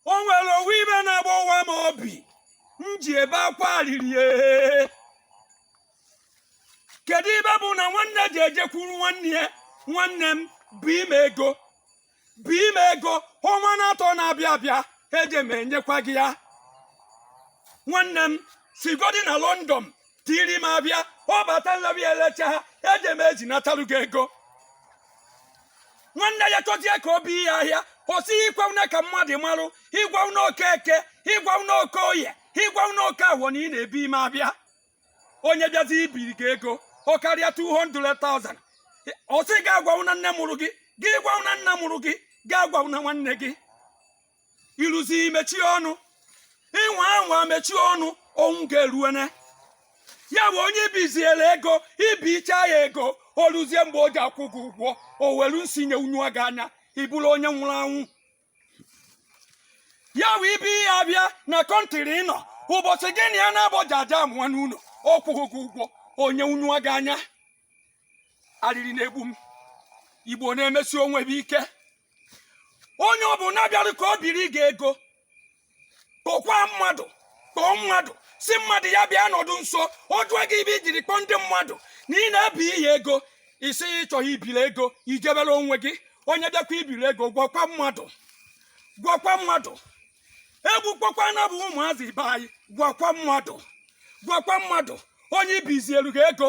o nwere ofu ife na-agbawa m obi m ji ebe akwa arịrị ee. kedu ife bụ na nwanne ji ejekwuru nwanne ya nwanne m bie m ego bie m ego ọnwa n'atọ na-abịa abịa eje m enyekwa gị ya nwanne m sigodi na london tiri m abịa ọ bata nlabi elecha ha eje m eji natalu gị ego nwanne ya chọzie ka o bi ya ahịa kwụsị agwana ka mmadụ marụ agwana okeke agwana okoye agwana okafọ na ị na-ebi ime abịa onye bịazi ibiri gị ego ọ karịa 200,000 ọ sị gị agwana nne mụrụ gị gị agwana nna mụrụ gị gị agwana nwanne gị ị rụzie mechie ọnụ ịnwa anwa mechie ọnụ onwu ga-eruene ya bụ onye i bizielu ego i bichaa ya ego o ruzie mgbe o ji akwụ gị ụgwọ o welu nsị nyenyụọ gị anya ị bụrụ onye nwụrụ anwụ ya bụ ibi ihe abịa na kọntịrị ị nọ ụbọchị gị na ya na-abọja aja amụwa n'ụlọ ọ kwụghị gị ụgwọ o nyenyụọ gị anya arịrị na-egbu m igbo na-emesi onwe ha ike onye ọ bụla bịara ka o biri gị ego kpọkwa mmadụ kpọọ mmadụ sị mmadụ ya bịa nọdụ nso ọ jụọ gị ife i jiri kpọọ ndị mmadụ na ị na-ebi ihe ego isi ya ịchọghị ibiri ego i jebere onwe gị onye bịakwa ibiri ego gwakwa mmadụ gwakwa mmadụ e gbukpọkwa na bụ ụmụazị ibe anyị gwakwa mmadụ gwakwa mmadụ onye i bizielu gị ego